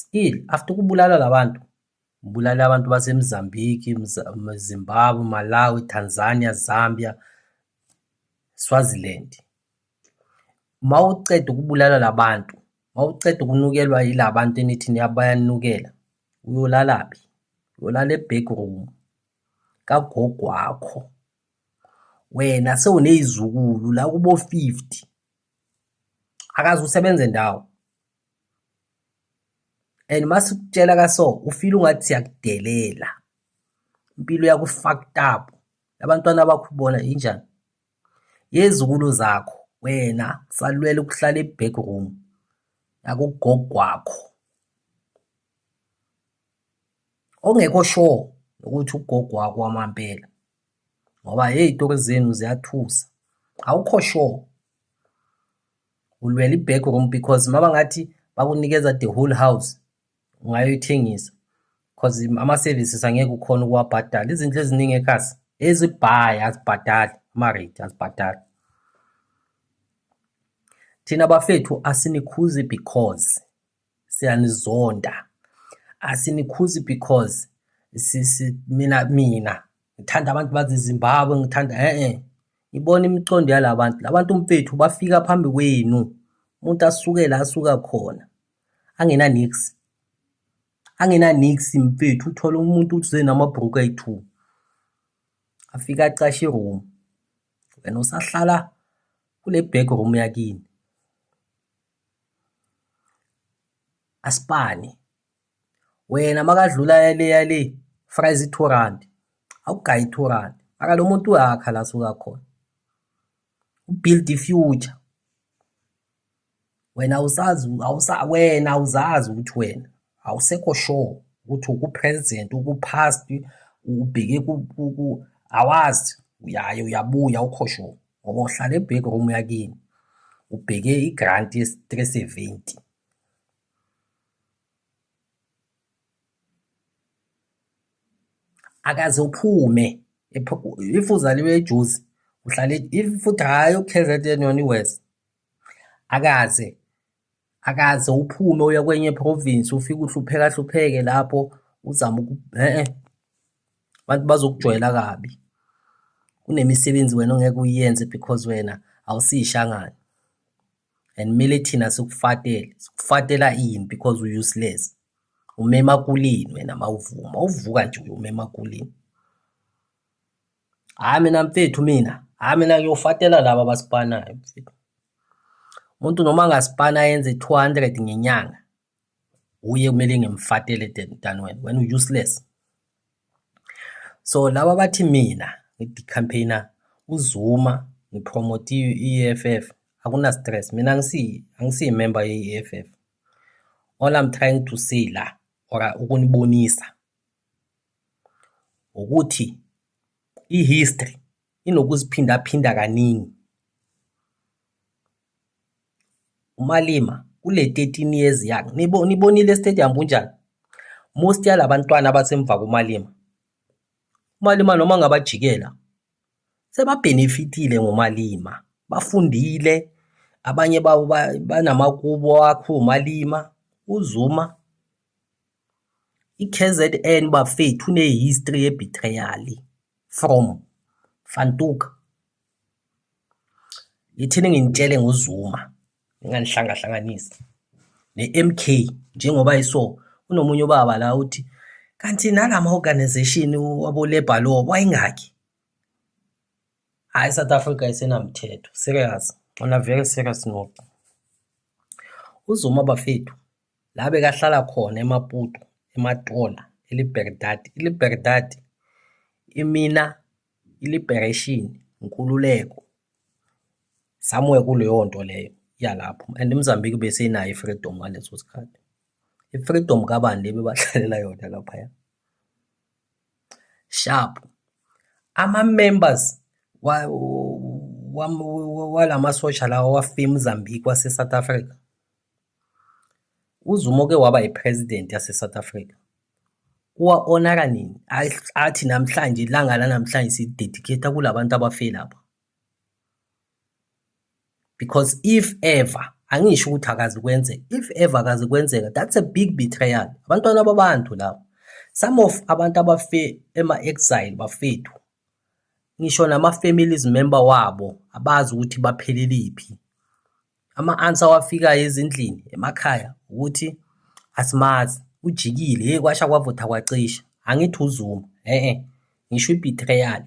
Still after kubulala labantu kubulala abantu baseMozambique, Zimbabwe, Malawi, Tanzania, Zambia, Swaziland. Mawuceda ukubulala labantu, mawuceda ukunukelwa yilabantu enithi niyabayanukela, uyolalaphi? Uyolala e-backroom. kagogo wakho wena sewunezizukulu la kubo 50 akaze usebenze ndawo and masikutshela kaso ufile ungathi siyakudelela impilo yakho fucked up abantwana bakho bona injani yezukulu zakho wena salwela ukuhlala eback room yakugogwakho ongekho sure ukuthi ugogo wakho wamampela ngoba hey itori zenu ziyathusa awukho sure ulwela i-back room because maba ngathi bakunikeza the whole house ungayoyithengisa because ama-services angeke ukhona ukuwabhadala izinto eziningi ekhasi ezibhayi azibhadali ama-rate azibhadali thina bafethu asinikhuzi because siyanizonda asinikhuzi because sisi mina mina ngithanda abantu bazizimbabwe ngithanda e-e ibona imicondo yala bantu la bantu mfethu bafika phambi kwenu umuntu asuke la asuka khona angenanix angenanix mfethu uthole umuntu uze namabhruku ayi-two afika acashe iroom wena usahlala kule back room yakini Asibani. Wena makadlula yaleya le fries i-two rand awugayi i-two rand maka lo muntu uyakha la suka khona ubuild i-future wena awusazi awusa wena awuzazi ukuthi wena awusekho sure ukuthi uku-president uku-past ubheke awazi uyaye uyabuya awukho sure. ngoba uhlala ebheke room yakini ubheke i-grant ye-three seventy akaze uphume if uzaliwe ejuzi uhlale if futhi hhayi u-kzn yona i-west akaze akaze uphume uye kwenye province ufike uhlupheka hlupheke lapho uzama uku eh abantu bazokujwayela kabi kunemisebenzi wena ongeke uyenze because wena awusishangane and mele thina sikufatele sikufatela ini because u useless umema kulini wena mawuvuma uvuka nje umema kulini Hhayi mina mfethu mina, hhayi mina ngiyofatela laba abasipanayo mfethu. Umuntu noma angasipana ayenze 200 ngenyanga, uye kumele ngimfatele than wena, wena u-useless. So laba bathi mina ngicampaigner uZuma ngipromote i-EFF akuna stress mina angisi angisi member ye-EFF all I'm trying to say la or ukunibonisa ukuthi i-history inokuziphindaphinda kaningi. UMalema kule 13 years yakhe nibonile estadium kunjani? Most yalabantwana abasemva kuMalema. UMalema noma ngabajikela sebabhenefitile ngoMalema, bafundile abanye babo banamakubo akho uMalema, uZuma I-KZN bafethu ine-history ye-betrayal from van Tuuk. Yithini nginitshele ngoZuma nginganihlangahlanganisi ne-MK njengoba iso kunomunye ubaba la uthi kanti nalama organization wabolebha lo wayengaki hayi South Africa isenamthetho serious ona very serious noku uzuma bafethu la bekahlala khona eMaputo eMatola iLiberdade iLiberdade imina iLiberation inkululeko somewhere kuleyo nto leyo yalapho and iMozambique besenayo i-freedom ngaleso sikhathi i-freedom kabani le bebahlalela yona laphaya sharp ama-members walamasosha lawa wafika eMozambique wase-South Africa UZuma oke waba yiPresident yaseSouth Africa kuwa-onaka nini athi namhlanje ilanga lanamhlanje sidedicate-a kula bantu abafile lapha because if ever angisho ukuthi akazi kwenzeka if ever akazi kwenzeka that's a big betrayal abantwana babantu labo some of abantu abafe ema-exile bafethu ngisho nama-families member wabo abazi ukuthi bapheleliphi. Ama-answer awafikayo ezindlini emakhaya ukuthi asimazi, ujikile, hheyi kwasha kwavutha kwacisha, angithi uZuma, e-e, ngisho i-betrayal,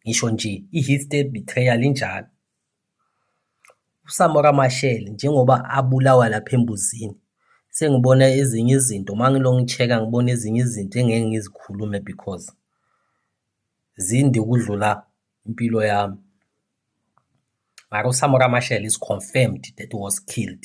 ngisho nje i-history betrayal injalo. uSamora Machel njengoba abulawa lapha embuzini sengibona ezinye izinto uma ngilongi-check-a ngibona ezinye izinto engeke ngizikhulume because zinde ukudlula impilo yami mara uSamora Machel is confirmed that was killed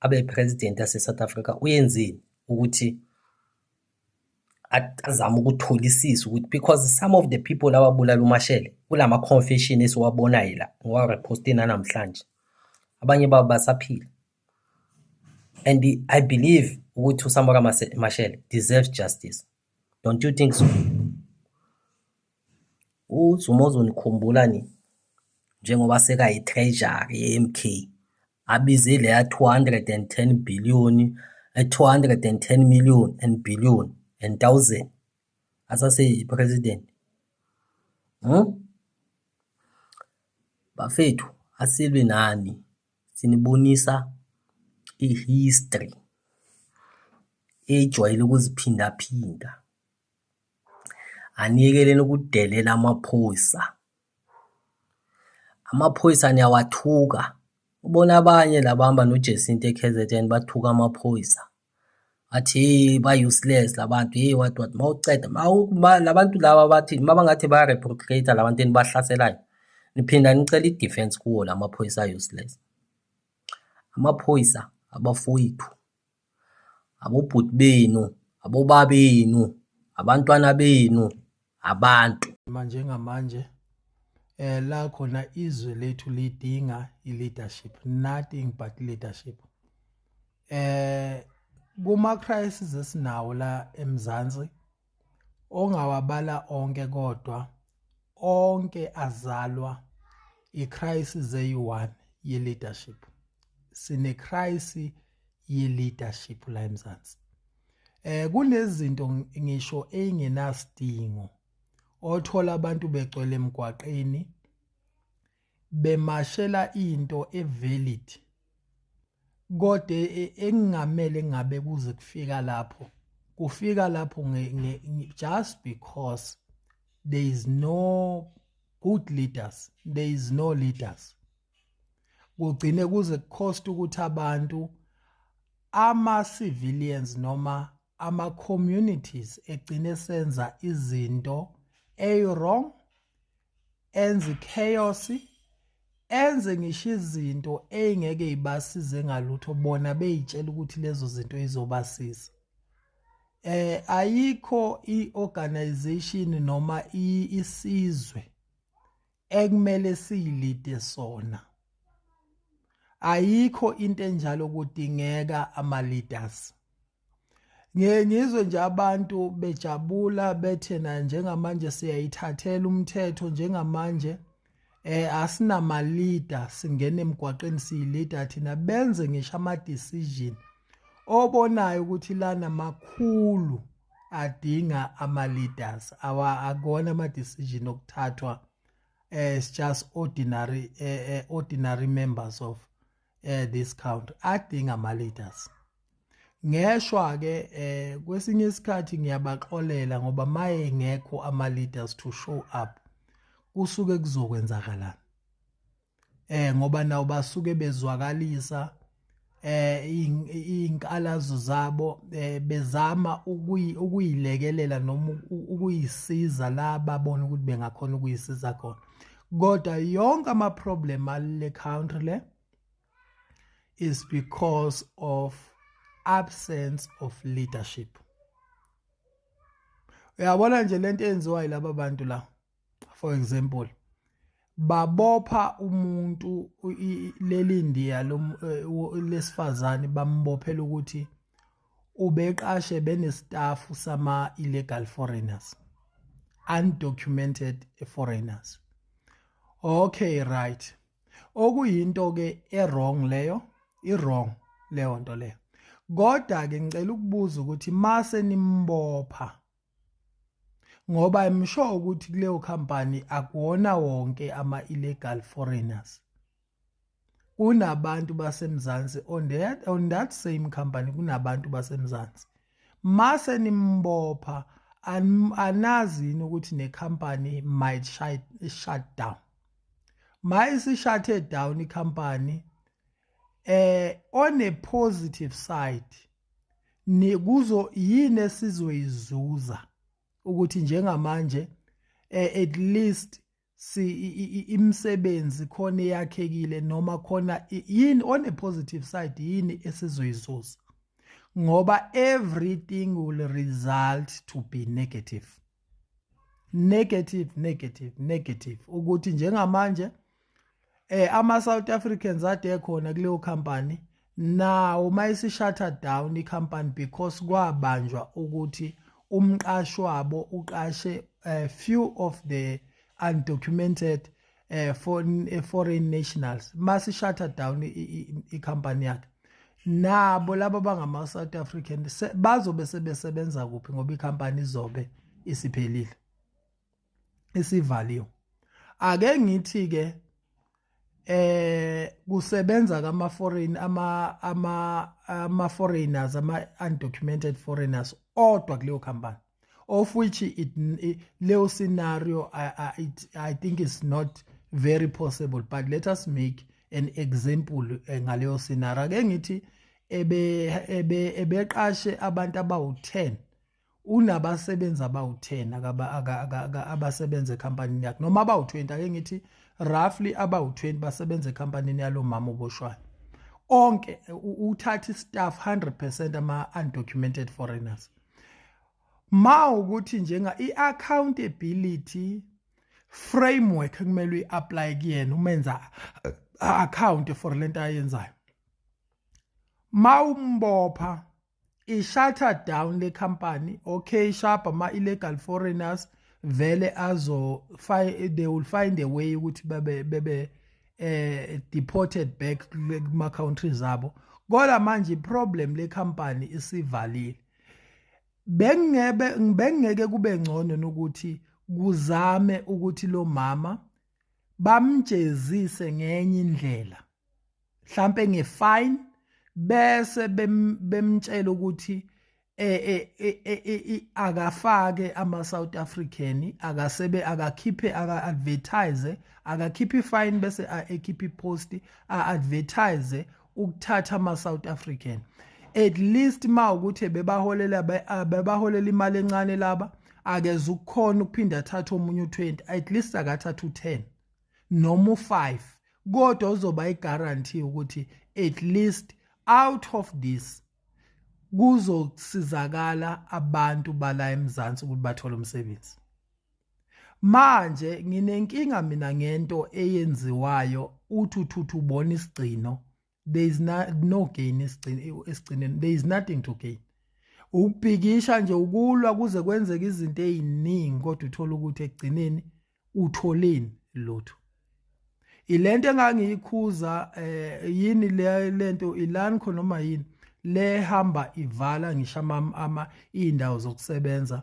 abe president yase South Africa uyenzeni ukuthi azama ukutholisisa ukuthi because some of the people ababulala umashele kulama confession esiwabonayo la ngowa repost namhlanje abanye babo basaphila and i believe ukuthi uSamora Mashele deserves justice don't you think so UZuma uzonikhumbula nini njengoba sekayi-treasury ye-MK abize leya 210 billion 210 million and billion and thousand asaseyi-president hmm? bafethu asilwi nani sinibonisa i-history ejwayele ukuziphindaphinda. aniyekeleni ukudelela amaphoyisa amaphoyisa niyawathuka ubona abanye labahamba noJesinta eKZN bathuka amaphoyisa athi hey ba useless labantu hey what what mawuceda labantu laba bathi mabangathi ba reprocate labantu enibahlaselayo niphinda nicela i-defense kuwo lamaphoyisa useless amaphoyisa abafowethu abobhuti benu abobaba benu abantwana benu abantu manje ngamanje eh la khona izwe lethu lidinga i-leadership nothing but leadership eh kuma crisis esinawo la eMzansi ongawabala onke kodwa onke azalwa icrisis eyi-one ye-leadership sinecrisis ye-leadership la emzansi eh kunezinto ngisho eyingenasidingo othola abantu begcwele emgwaqeni bemashela into evalid kodwa e, e, engingamele ngabe kuze kufika lapho kufika lapho just because there is no good leaders there is no leaders kugcine kuze kucost ukuthi abantu ama civilians noma ama communities egcine senza izinto eyirong enze chaos enze ngisho izinto eyingeke ibasize ngalutho bona beyitshela ukuthi lezo zinto izobasiza eh ayikho iorganization noma isizwe ekumele siyilide sona ayikho into enjalo kudingeka ama leaders ngiye ngizwe nje abantu bejabula bethe na njengamanje siyayithathela umthetho njengamanje eh asinama leader singena emgwaqeni siyilida thina benze ngisho ama decision obonayo ukuthi lana makhulu adinga ama leaders awa akona ama decision okuthathwa as eh, just ordinary eh, eh, ordinary members of eh this count adinga ama leaders ngeshwa ke eh kwesinye isikhathi ngiyabaxolela ngoba maye ngekho ama leaders to show up kusuke kuzokwenzakalana eh ngoba nawo basuke bezwakalisa eh inkalazo zabo eh, bezama ukuyilekelela noma ukuyisiza la babona ukuthi bengakhona ukuyisiza khona kodwa yonke ama problem ale country le is because of absence of leadership uyabona nje lento enziwa yilabo bantu la for example babopha umuntu leli ndiya eh, lesifazane bambophela ukuthi ubeqashe benesitafu sama-illegal foreigners undocumented foreigners okay right okuyinto ke e-wrong leyo i-wrong leyo nto leyo kodwa ke ngicela ukubuza ukuthi mase nimbopha ngoba i'm sure ukuthi kuleyo company akuwona wonke ama illegal foreigners kunabantu basemzansi on that on that same company kunabantu basemzansi mase nimbopha anazi yini ukuthi ne company might shut, shut down mayisi shuthe down i company eh on a positive side nikuzo yini esizoyizuza ukuthi njengamanje eh, at least si imisebenzi khona eyakhekile noma khona yini on a positive side yini esizoyizuza ngoba everything will result to be negative negative negative negative ukuthi njengamanje eh ama South Africans ade khona kuleyo company nawo mayisi shutter down i company because kwabanjwa ukuthi umqashi wabo uqashe a eh, few of the undocumented eh foreign eh, foreign nationals mase shutter down i company yakhe nabo laba bangama South African bazobe sebesebenza kuphi ngoba icompany izobe isiphelile isivaliwe ake ngithi ke eh kusebenza kama foreign ama ama ama foreigners ama undocumented foreigners odwa kuleyo company of which it, it leo scenario I, I, it, I think is not very possible but let us make an example eh, ngaleyo scenario ake ngithi ebe ebe ebeqashe abantu abawu10 unabasebenzi abawu10 akaba abasebenza ecompanyini yakhe noma abawu20 ake ngithi roughly abawu20 basebenza ecompanyini yalomama oboshwayo onke uthatha istaff 100% ama undocumented foreigners ma ukuthi njenga i-accountability framework kumele uyi-apply kuyena umenza account for lento ayenzayo mawumbopha ishuttle down le company okay sharp ama illegal foreigners vele azo they will find a way ukuthi bebe bebe eh deported back kuma country zabo kodwa manje problem le company isivalile bengebe bengeke kube ngcono nokuthi kuzame ukuthi lo mama bamjezise ngenye indlela mhlambe ngefine bese bemtshela ukuthi eh, eh, eh, akafake ama South African akasebe akakhiphe aka advertise akakhiphi fine bese ekhiphi post a advertise ukuthatha ama South African at least ma ukuthi bebaholela bebaholela imali encane laba akeze ukukhona ukuphinda athathe omunye u20 at least akathatha u10 noma u5 kodwa uzoba i guarantee ukuthi at least out of this kuzosizakala abantu bala eMzansi ukuthi bathole umsebenzi manje nginenkinga mina ngento eyenziwayo uthi uthuthu ubona isigcino there is no, no gain esigcineni there is nothing to gain ukubhikisha nje ukulwa kuze kwenzeke izinto eziningi kodwa uthola ukuthi ekugcineni utholeni lutho ilento engangiyikhuza eh yini le lento ilani khona noma yini le hamba ivala ngisho ama indawo zokusebenza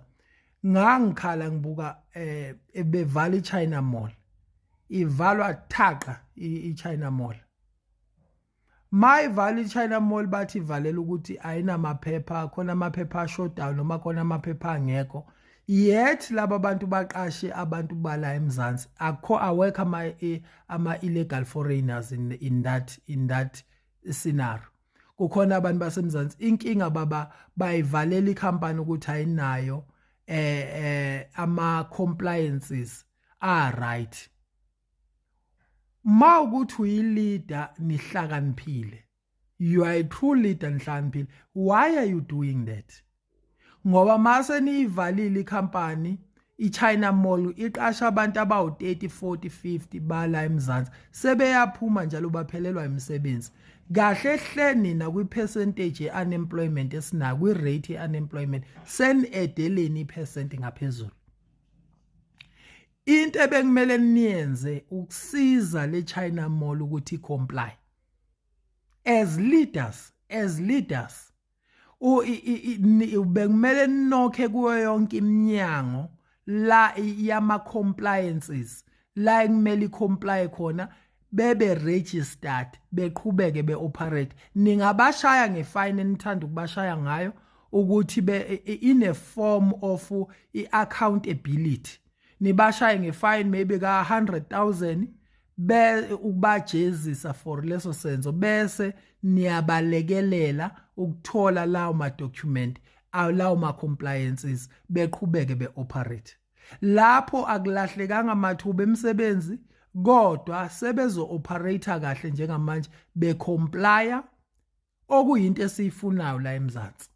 ngangikhala ngibuka eh bevala iChina Mall ivalwa thaqa iChina Mall mayivale ichina mall bathi ivalela ukuthi ayinamaphepha khona amaphepha ashodayo noma khona amaphepha angekho yet laba bantu baqashe abantu bala emzansi akho awekho ama e, ama illegal foreigners in, in that in that scenario kukhona abantu basemzansi inkinga baba bayivalela ikhampani ukuthi ayinayo eh eh ama compliances are right ma ukuthi uyileader nihlakaniphile you are a true leader nihlakaniphile why are you doing that ngoba mase niyivalile ikhampani iChina Mall iqasha abantu abawu30 40 50 bala eMzansi sebeyaphuma njalo baphelelwa imisebenzi kahle hle nina kwi percentage unemployment esina kwi rate unemployment sen edeleni percent ngaphezulu into ebekumele niyenze ukusiza le China Mall ukuthi comply as leaders as leaders bekumele ninokhe kuyo yonke iminyango la yama compliances la ekumele comply khona bebe registered beqhubeke be operate ningabashaya ngefine enithanda ukubashaya ngayo ukuthi be in a form of i accountability nibashaye ngefine maybe ka 100000 be ukubajezisa for leso senzo bese niyabalekelela ukuthola lawo ma document lawo ma compliances beqhubeke be operate Lapho akulahlekanga mathuba emisebenzi kodwa sebezo-operator kahle njengamanje becomplya okuyinto esiyifunayo la eMzansi.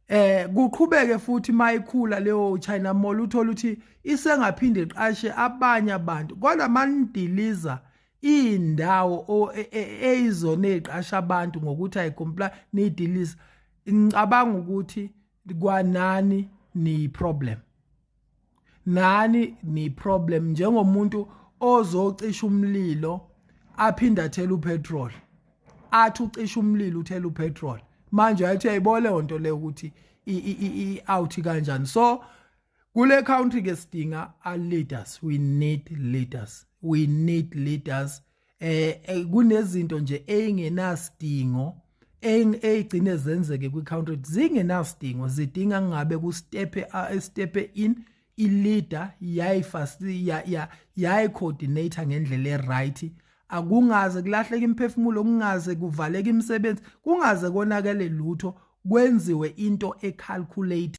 Eh kuqhubeke futhi mayikhula leyo China Mall uthola ukuthi isengaphinde iqashe abanye abantu kodwa manidiliza indawo e, e, eyizona eziqasha abantu ngokuthi ayicomply nidiliza ngicabanga ukuthi kwanani ni problem nani ni problem njengomuntu ozocisha umlilo aphinde athela upetrol athi ucisha umlilo uthela upetrol manje ayithi ayibole onto le ukuthi i out kanjani so kule country ke sidinga a leaders we need leaders we need leaders eh, eh kunezinto nje engenasidingo eyigcine zenzeke kwi-country zingenasidingo zidinga ngabe kustepe estepe in i-leader yayi-coordinator ngendlela e-right akungaze kulahleke imiphefumulo kungaze kuvaleke imisebenzi kungaze konakele lutho kwenziwe into ecalculate